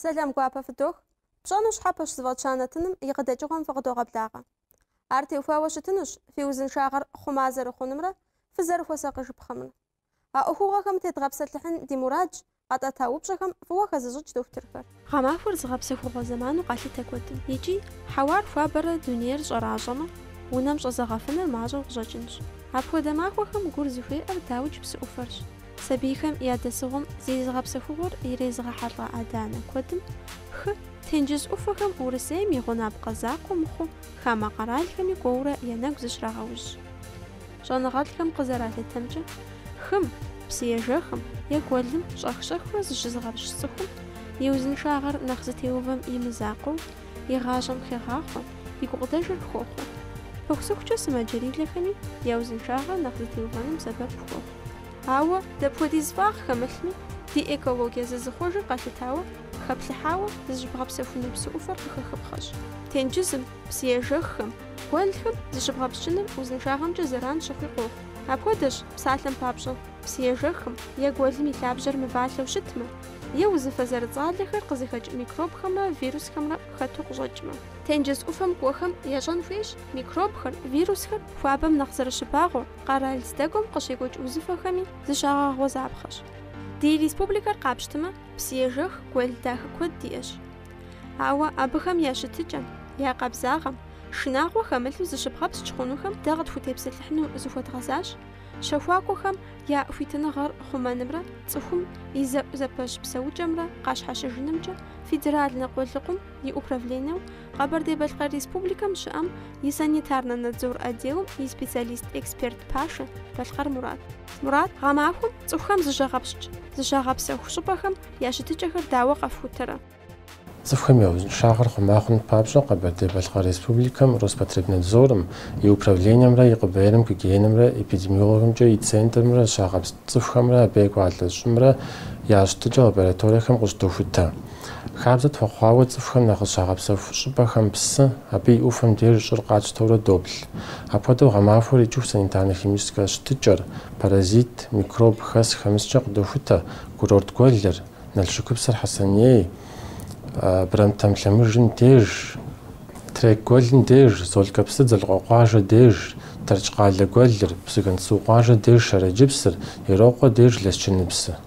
Сэлам гуапэ фыдох. Пщӏэну щхьэпэщ зыфӏэтща нэтыным и къыдэкӏыгъуэм фыкъыдогъэблагъэ. Ар теухуауэ щытынущ фи узыншагъэр хъума зэрыхъунумрэ фызэрыхуэсакъыжыпхъэмрэ. А ӏуэхугъуэхэм тедгъэпсэлъыхьын ди мурадщ, къэтӏэта упщӏэхэм фӏыуэ хэзыщӏыкӏ дохутырхэр. Гъэмахуэр зыгъэпсэхугъуэ зэману къалъытэ куэдым. Икӏи, хьэуар хуабэрэ дунейр щӏэращӏэмэ, унэм щӏэзэгъэфыныр мащӏэу къыщӏэкӏынщ. Апхуэдэ махуэхэм гур зыхуеӏэр дауикӏ псы ӏуфэрщ. Сабийхэм я дэсыгъуэм зи зыгъэпсэхугъуэр ирезыгъэхьэлӏэ адэ-анэ куэдым, хы, тенджыз ӏуфэхэм Урысейм и гъунапкъэ закъуэ мыхъуу хамэ къэралхэми кӏуэурэ я нэгу зыщрагъэужь. Щӏэныгъэлӏхэм къызэралъытэмкӏэ, хым, псыежэхым, е гуэлым щӏэх-щӏэхыурэ зыщызыгъэпскӏ цӏыхум и узыншагъэр нэхъ зытеувэм и мызакъуэу, и гъащӏэм хегъахъуэ, и гукъыдэжыр хохъуэ. Пыхусыхукӏэ сымаджэрилэхэми я узыншагъэр нэхъ зытеувэным сэбэп хуохъу. Ауэ, дапхуэдиз фӏагъ хэмылъми, ди экологие зызыхъуэжыр къалъытауэ, хэплъыхьауэ зыщыбгъэпсэхуну псы ӏуфэр къыхэхыпхъэщ. Тенджызым, псыежэххэм, гуэлхэм зыщыбгъэпскӏыныр узыншагъэмкӏэ зэран щыхъуи къохъу. Апхуэдэщ, псалъэм папщӏэ, псыежэххэм е гуэлым и лъабжьэр мывалъэу щытмэ, е узыфэ зэрыцӏалэхэр къызыхэкӏ микробхэмрэ вирусхэмрэ хэту къыщӏэкӏмэ. Тенджыз ӏуфэм кӏуэхэм ящӏэн хуейщ микробхэр, вирусхэр хуабэм нэхъ зэрыщыбагъуэр. къэрал здэкӏуэм къыщекӏуэкӏ узыфэхэми зыщагъэгъуэзапхъэщ. Ди республикэр къапщтмэ, псыежэх, гуэл дахэ куэд диӏэщ. Ауэ абыхэм я щытыкӏэм, я къабзагъэм, шынагъуэ хэмылъу зыщыбгъэпскӏ хъунухэм дэ къытхутепсэлъыхьыну зыхуэдгъэзащ, щэхуакӏуэхэм я хуитыныгъэр хъумэнымрэ цӏыхум и зэӏузэпэщ псэукӏэмрэ къащхьэщыжынымкӏэ федеральнэ къулыкъум и управленэу Къэбэрдей-Балъкъэр Республикэм щыӏэм и санитарнэ надзор отделым и специалист-эксперт пашэ Балъкъэр Мурат. Мурат, гъэмахуэм цӏыхухэм зыщагъэпскӏ, зыщагъэпсэху щӏыпӏэхэм я щытыкӏэхэр дауэ къэфхутэрэ? Цӏыхухэм я узыншагъэр хъума хъуным папщӏэ Къэбэрдей-Балъкъэр Республикэм Роспотребнадзорым и управленэмрэ и КъБР-м гигиенэмрэ эпидемиологиемкӏэ и центрымрэ зыщагъэпскӏ цӏыхухэмрэ абы екӏуалӏэ щӏымрэ я щытыкӏэ лабораториехэм къыщыдохутэ. Хабзэ тхуэхъуауэ цӏыхухэм нэхъ зыщагъэпсэху щӏыпӏэхэм псы, абы и ӏуфэм деж щӏыр къатщтэурэ доплъ. Апхуэдэу гъэмахуэр икӏыху санитарно-химическэ щытыкӏэр, паразит, микроб хэс-хэмыскӏэ къыдохутэ, курорт гуэлыр, Налшыкыпсыр Хьэсэней, Брамтэм лъэмыжым деж, Трек гуэлым деж, Золкэпсыр Дзэлыкъуэкъуажэ деж, Тэрч къалэ гуэлыр, Псыгуэнсу къуажэ деж Шэрэджыпсыр, Ерокъуэ деж Лэсчыныпсы.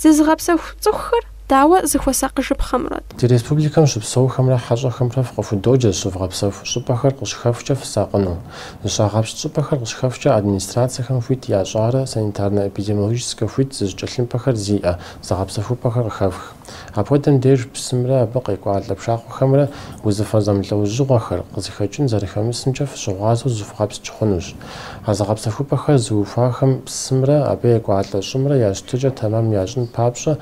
Зызыгъэпсэху цӏыхухэр дауэ зыхуэсакъыжыпхъэмрэт? Ди республикэм щыпсэухэмрэ хьэщӏэхэмрэ фыкъыхудоджэ зыщывгъэпсэху щӏыпӏэхэр къыщыхэфхкӏэ фысакъыну. Зыщагъэпскӏ щӏыпӏэхэр къыщыхэфхкӏэ администрациехэм хуит ящӏарэ санитарно-эпидемиологическэ хуит зыщӏ тхылъымпӏэхэр зиӏэ зыгъэпсэхупӏэхэр къыхэфх. Апхуэдэм деж псымрэ абы къекӏуалӏэ пшахъуэхэмрэ узыфэ зэмылӏэужьыгъуэхэр къызыхэкӏын зэрыхэмысымкӏэ фыщыгъуазэу зывгъэпскӏ хъунущ. А зыгъэпсэхупӏэхэр зыухуахэм псымрэ абы екӏуалӏэ щӏымрэ я щытыкӏэр тэмэм ящӏын папщӏэ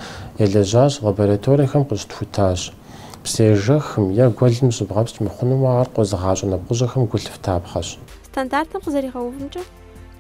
елэжьащ, лабораториехэм къыщытхутащ. Псыежэхым е гуэлым зыщыбгъэпскӏ мыхъунумэ ар къозыгъащӏэ нэпкъыжьэхэм гу лъыфтапхъэщ. Стандартым къызэригъэувымкӏэ,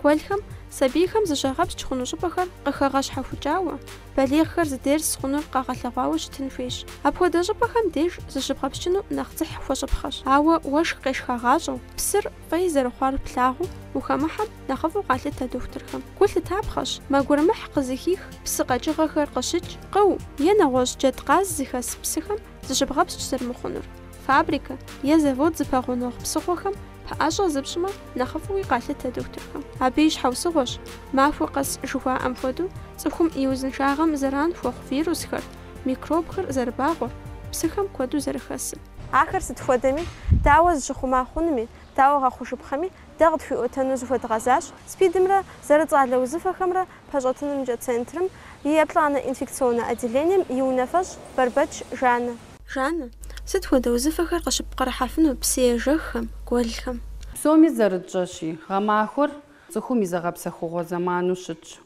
гуэлхэм сабийхэм зыщагъэпскӏ хъуну щӏыпӏэхэр къыхэгъэщхьэхукӏауэ, балигъхэр здес хъунур къагъэлъэгъуауэ щытын хуейщ. Апхуэдэ щӏыпӏэхэм деж зыщыбгъэпскӏыну нэхъ дзыхь хуэщӏыпхъэщ. Ауэ уэшх къешхагъащӏэу, псыр Фӏей зэрыхъуар плъагъуу, ухэмыхьэм нэхъыфӏу къалъытэ дохутырхэм. Гу лъытапхъэщ, мэ гурымыхь къызыхих псы къэкӏыгъэхэр къыщыкӏ, къыу е нэгъуэщӏ джэдкъаз зыхэс псыхэм зыщыбгъэпскӏ зэрымыхъунур. Фабрикэ е завод зыпэгъунэгъу псыхъуэхэм пэӏэщӏэ зыпщӏмэ, нэхъыфӏуи къалъытэ дохутырхэм. Абы и щхьэусыгъуэщ, махуэ къэс жыхуаӏэм хуэдэу, цӏыхум и узыншагъэм зэран хуэхъу вирусхэр, микробхэр зэрыбагъуэр, псыхэм куэду зэрыхэсыр. Ахэр сыт хуэдэми, дауэ зыщыхъума хъунуми, дауэ гъэхъужыпхъэми, дэ къытхуиӏуэтэну зыхуэдгъэзащ СПИД-мрэ зэрыцӏалэ узыфэхэмрэ пэщӏэтынымкӏэ центрым и еплӏанэ инфекционнэ отделением и унафэщӏ Бэрбэч Жаннэ. Жаннэ, сыт хуэдэ узыфэхэр къыщыпкърыхьэфыну псыежэххэм, гуэлхэм? Псоми зэрытщӏэщи, гъэмахуэр цӏыхум и зыгъэпсэхугъуэ зэману щытщ.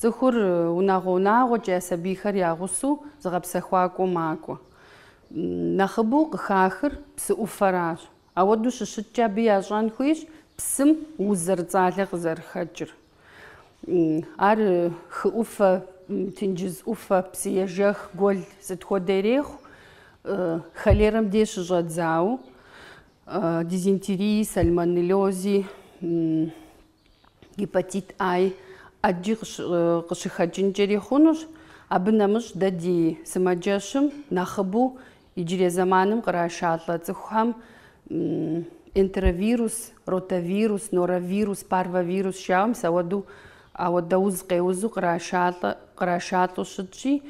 Цӏыхур унагъуэ-унагъуэкӏэ я сабийхэр я гъусэу зыгъэпсэхуакӏуэу макӏуэ. Нэхъыбэу къыхахыр псы ӏуфэращ. Ауэдэу щыщыткӏэ абы ящӏэн хуейщ псым уз зэрыцӏалэ къызэрыхэкӏыр. Ар хы ӏуфэ, тенджыз ӏуфэ, псыежэх, гуэл сыт хуэдэ ирехъу, холерэм деж щыщӏэдзауэ, дизентерии, сальмонеллёзи. Гепатит А-и, ӏэджи къыщыхэкӏынкӏэри хъунущ. Абы нэмыщӏ дэ ди сымаджэщым нэхъыбэу иджырей зэманым кърашалӏэ цӏыхухэм энтеровирус, ротавирус, норовирус, парвовирус жаӏэу мис ауэдэу ауэдэ уз къеузу кърашалӏэ, кърашалӏэу щытщи,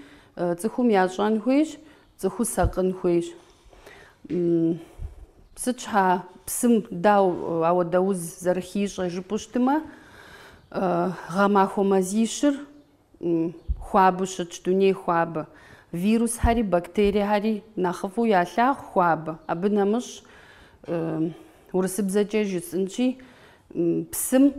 цӏыхум ящӏэн хуейщ Цӏыху сакъын хуейщ. Сыт щхьа псым дау ауэдэ уз зэрыхищӏэ жыпӏу щытымэ, гъэмахуэ мазищыр хуабэу щытщ, дуней хуабэ. Вирусхэри, бактериехэри нэхъыфӏу ялъагъу хуабэ. Абы нэмыщӏ урысыбзэкӏэ жысӏынщи, Псым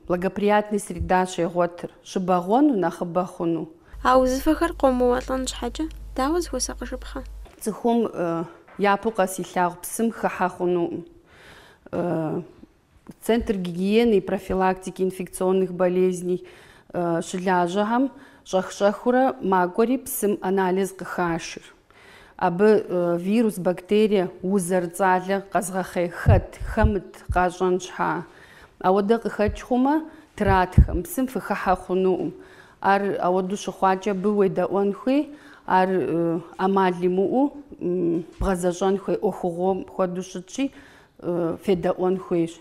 благоприятный среда щегъуэтыр, щыбэгъуэну, нэхъыбэ хъуну. А узыфэхэр къомыуэлӏэн щхьэкӏэ дауэ зыхуэсакъыжыпхъэ? Цӏыхум япэу къэс илъагъу псым хыхьэ хъунукъым. Центр гигиены и профилактики инфекционных болезней щылажьэхэм щӏэх-щӏэхыурэ макӏуэри псым анализ къыхашыр. Абы вирус, бактерие, уз зэрыцӏалэ къэзгъэхъей хэт, хэмыт къащӏэн щхьа. Ауэдэ къыхэкӏ хъумэ, тратхэ, мы псым фыхыхьэ хъунукъым. Ар ауэду щыхъуакӏэ абы уедэӏуэн хуей, ар ӏэмал имыӏэу бгъэзэщӏэн хуей ӏуэхугъуэм хуэдэу щытщи, федэӏуэн хуейщ.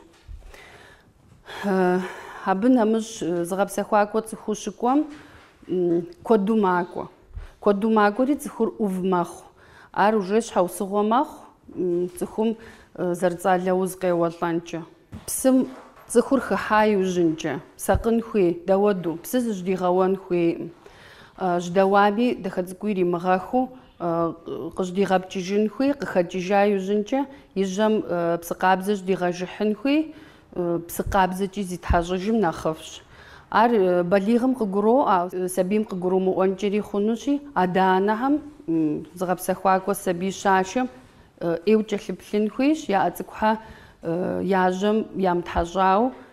Абы нэмыщӏ зыгъэпсэхуакӏуэ цӏыхуу щыкӏуэм куэду макӏуэ. Куэду макӏуэри цӏыхур ӏув мэхъу. Ар уже щхьэусыгъуэ мэхъу цӏыхум зэрыцӏалэ уз къеуэлӏэнкӏэ. Псым цӏыхур хыхьа иужьынкӏэ сакъын хуей дауэду псы зыжьдигъэуэн хуейкъым. Жьдэуами дахэ цӏыкӏуу иримыгъэхыу къыжьдигъэпкӏыжын хуей, къыхэкӏыжа иужьынкӏэ и жьэм псы къабзэ жьдигъэжыхьын хуей, псы къабзэкӏи зитхьэщӏыжым нэхъыфӏщ. Ар балигъым къыгуроӏуэ, сабийм къыгурумыӏуэнкӏэри хъунущи, адэ-анэхэм зыгъэпсэхуакӏуэ сабий щашэм ӏейуэ кӏэлъыплъын хуейщ, я ӏэ цӏыкӏухэр я жьэм ямытхьэщӏауэ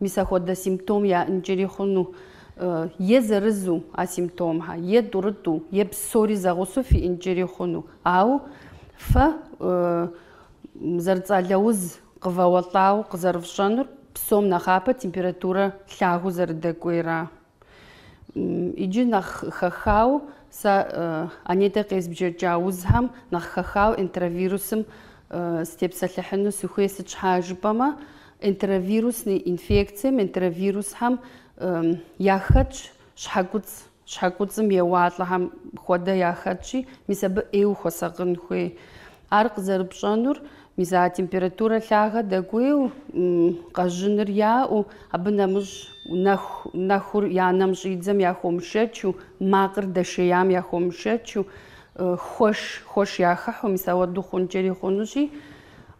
Мис ахуэдэ симптом яӏэнкӏэри хъуну е зырызу а симптомхэр, е тӏурытӏу, е псори зэгъусэу фиӏэнкӏэри хъуну. Ауэ фэ зэрыцӏалэ уз къывэуэлӏауэ къызэрыфщӏэнур псом нэхъапэ температурэ лъагэу зэрыдэкӏуейра. Иджы нэхъ хэхауэ сэ анетӏэ къезбжэкӏа узхэм нэхъ хэхауэ энтеровирусым сытепсэлъыхьыну сыхуей сыт щхьа жыпӏэмэ, энтеровирусный инфекцием, энтеровирусхэм яхэтщ щхьэкуцӏ, щхьэкуцӏым еуалӏэхэм хуэдэ яхэтщи, мис абы ӏейуэ хуэсакъын хуей. Ар къызэрыпщӏэнур, мис а температурэ лъагэ дэкӏуейу, къэжьыныр яӏэу, абы нэмыщӏ нэху, нэхур я нэм щӏидзэм яхуэмышэчу, макъыр дэшеям яхуэмышэчу, хуэш, хуэш яхыхьу, мис ауэду хъункӏэри хъунущи,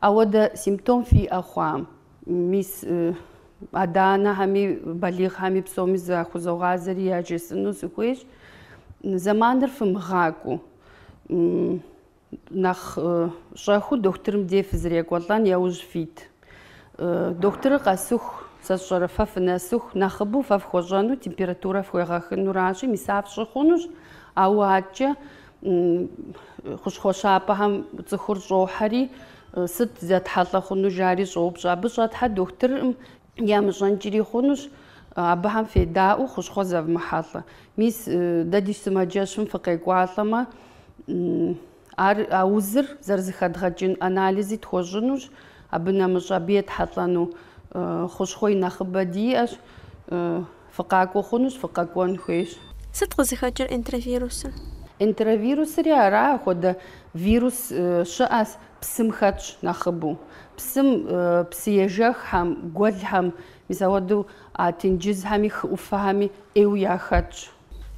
ауэдэ симптом фиӏэ хъуам, мис адэ-анэхэми, балигъхэми псоми захузогъазэри яжесӏэну сыхуейщ. Зэманыр фымыгъакӏуэу. Нэхъ щӏэхыу дохутырым дей фызэрекӏуэлӏэн яужь фит. Дохутырыр къэсыху, сэ сщӏэрэ фэ фынэсыху, нэхъыбэу фэ фхуэщӏэну температурэ фхуегъэхынуращи, мис ар фщӏы хъунущ, ауэ адэкӏэ хущхъуэ щапӏэхэм цӏыхур щӏохьэри, сыт зэтхьэлӏэ хъуну жари щӏоупщӏэ. Абы щӏэтхьэр дохутырым ямыщӏэнкӏри хъунущ, абыхэм федаӏуэу хущхъуэ зэвмыхьэлӏэ. Мис дэ ди сымаджэщым фыкъекӏуалӏэмэ, ар а узыр зэрызыхэдгъэкӏын анализи тхуэщӏынущ, абы нэмыщӏ абы етхьэлӏэну хущхъуэ и нэхъыбэ диӏэщ. Фыкъакӏуэ хъунущ, фыкъэкӏуэн хуейщ. Сыт къызыхэкӏыр энтеровирусыр? Энтеровирусри ар ахуэдэ вирус щыӏэщ, псым хэтщ нэхъыбэу. Псым, псыежэххэм, гуэлхэм, мис ауэдэу а тенджызхэми хы ӏуфэхэми ӏейуэ яхэтщ.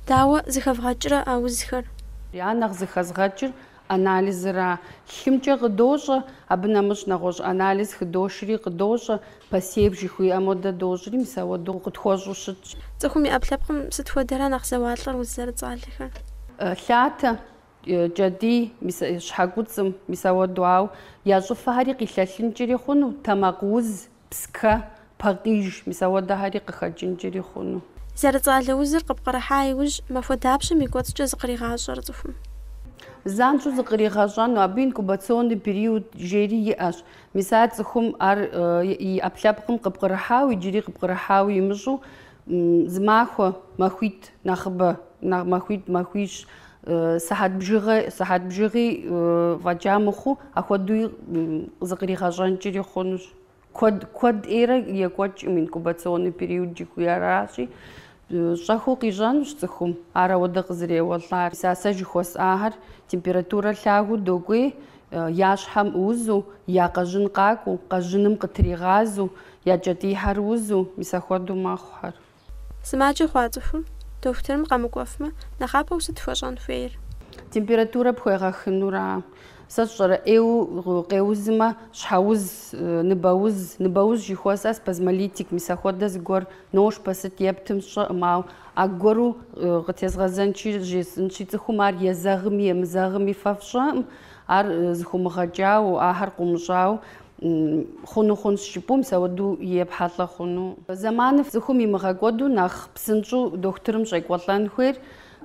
Дауэ зыхэвгъэкӏрэ а узхэр? Ар нэхъ зыхэзгъэкӏыр Анализра лъымкӏэ къыдощӏэ, абы нэмыщӏ нэгъуэщӏ анализ хыдошри къыдощӏэ, посев жыхуиӏэм хуэдэ дощӏри, мис ауэду къытхуэщӏу щытщ. Цӏыхум и ӏэпкълъэпкъым сыт хуэдэрэ нэхъ зэуалӏэр уз зэрыцӏалэхэр? Лъатэ, кӏэтӏий, щхьэкуцӏым, мис ауэду, ауэ я щӏыфэхэри къилъэлъынкӏри хъуну, тэмакъ уз, Пскэ, пакъиж, мис ауэдэхэри къыхэкӏынкӏэри хъуну. Зэрыцӏалэ узыр къыпкърыхьа иужь, махуэ дапщэм и кӏуэцӏкӏэ зыкъригъащӏэр цӏыхум. Занщӏэу зыкъригъэщӏэну, абы инкубационный период жери иӏэщ, мис ар цӏыхум ар и ӏэпкълъэпкъым къыпкърыхьауэ иджыри къыпкърыхьауэ имыщӏу Зы махуэ, махуитӏ, нэхъыбэ, махуитӏ, махуищ, сыхьэт бжыгъэ, сыхьэт бжыгъи фӏэкӏа мыхъуу, апхуэдэуи зыкъригъэщӏэнкӏри хъунущ. Куэд, куэд ӏейрэ екӏуэкӏкъым, инкубационный период жыхуиӏэращи, щӏэхыу къищӏэнущ цӏыхум ар ауэдэ къызэреуэлӏар. Мис а сэ жыхуэсӏахэр температурэ лъагэу докӏуей, Я щхьэм узу, я къэжьын къакӏуэу, къэжьыным къытригъазэу, я кӏэтӏийхьэр узу, мис ахуэдэу мэхъухэр. Сымаджэ хъуа цӏыхум дохутырым къэмыкӏуэфмэ, нэхъапэу сыт хуэщӏэн хуейр? Температурэ пхуегъэхынура? Сэ сщӏэрэ, ӏейуэ къеузмэ, щхьэуз, ныбэуз, ныбэуз жыхуэсӏэ, спазмолитик, мис ахуэдэ зыгуэр Ношпэ сыт ептым сщӏэкъым, ауэ аргуэру къытезгъэзэнщи, жесӏэнщи, цӏыхум ар езэгъми емызэгъми фэ фщӏэкъым, ар зыхумыгъэкӏауэ, ахэр къумыщӏауэ хъуну хъунщ жыпӏэу, мис ауэдэу епхьэлӏэ хъуну. Зэманыр цӏыхум имыгъэкӏуэду нэхъ псынщӏэу дохутырым щӏекӏуэлӏэн хуейр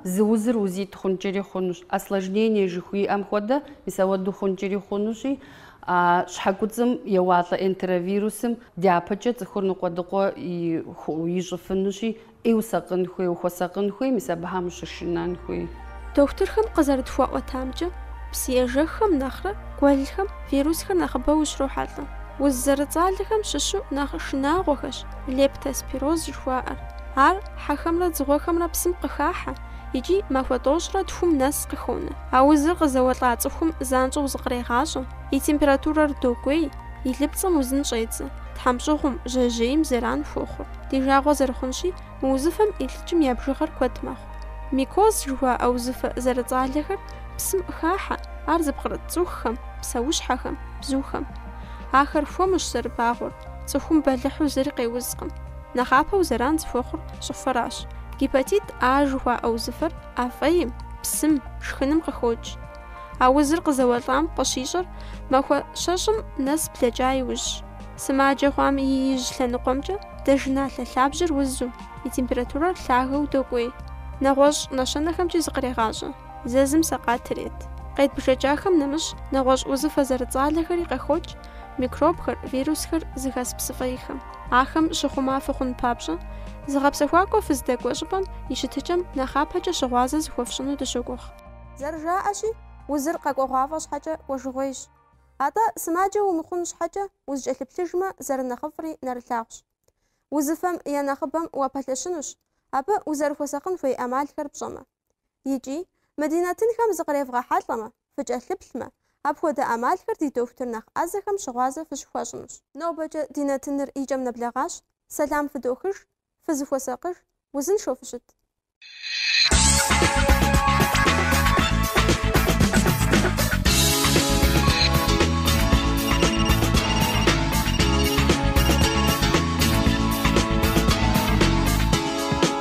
Зы узыр узитӏ хъункӏэри хъунущ, осложнение жыхуиӏэм хуэдэ мис ауэдэу хъункӏэри хъунущи, а щхьэ куцӏым еуалӏэ энтеровирусым дяпэкӏэ цӏыхур ныкъуэдыкъуэ ищӏыфынущи, ӏейуэ усакъын хуей, ухуэсакъын хуей, мис абыхэм ущышынэн хуей. Дохутырхэм къызэрытхуаӏуэтамкӏэ, псыежэххэм нэхърэ гуэлхэм вирусхэр нэхъыбэу ущрохьэлӏэ. Уз зэрыцӏалэхэм щыщу нэхъ шынагъуэхэщ Лептоспироз жыхуаӏэр. Ар хьэхэмрэ дзыгъуэхэмрэ псым къыхахьэ икӏи махуэ тӏощӏрэ тхум нэс къыхонэ. А узыр къызэуэлӏа цӏыхум занщӏэу зыкърегъащӏэ, и температурэр докӏуей, и лыпцӏэм узын щӏедзэ, тхьэмщӏыгъум, жьэжьейм зэран хуохъур. Ди жагъуэ зэрыхъунщи, мы узыфэм илӏыкӏым я бжыгъэр куэд мэхъу. Микоз жыхуаӏэ узыфэ зэрыцӏалэхэр псым къыхахьэ, ар зыпкърыт цӏыхухэм, псэущхьэхэм, бзухэм. Ахэр хуэмущ зэрыбагъуэр, цӏыхум бэлыхьу зыри къеузкъым. Нэхъапэу зэран зыхуэхъур щӏыфэращ. Гепатит А жыхуаӏэ узыфэр ӏэ фӏейм, псым, шхыным къыхокӏ. А узыр къызэуэлӏам къыщищӏэр махуэ щэщӏым нэс блэкӏа иужьщ. Сымаджэ хъуам и ижь лъэныкъуэмкӏэ дзажэналъэ лъабжьэр узу, и температурэр лъагэу докӏуей. Нэгъуэщӏ нэщэнэхэмкӏи зыкърегъащӏэ. Зэзым сэкъат ирет. Къедбжэкӏахэм нэмыщӏ, нэгъуэщӏ узыфэ зэрыцӏалэхэри къыхокӏ, микробхэр, вирусхэр зыхэс псы фӏейхэм. Ахэм щыхъума фыхъун папщӏэ, зыгъэпсэхуакӏуэ фыздэкӏуэ щӏыпӏэм и щытыкӏэм нэхъапэкӏэ щыгъуазэ зыхуэфщӏыну дыщогугъ. Зэрыжаӏэщи, узыр къэкӏуэгъуафӏэ щхьэкӏэ кӏуэжыгъуейщ. Атӏэ, сымаджэ умыхъун щхьэкӏэ, узыкӏэлъыплъыжмэ, зэрынэхъыфӏри нэрылъагъущ. Узыфэм я нэхъыбэм уапэлъэщынущ, абы узэрыхуэсакъын хуей ӏэмалхэр пщӏэмэ. Икӏи, мы ди нэтынхэм зыкъревгъэхьэлӏэмэ, фыкӏэлъыплъмэ, апхуэдэ ӏэмалхэр ди дохутыр нэхъ ӏэзэхэм щыгъуазэ фыщыхуащӏынущ. Нобэкӏэ ди нэтыныр и кӏэм нэблэгъащ, сэлам фыдохыж, фызыхуэсакъыж, узыншэу фыщыт.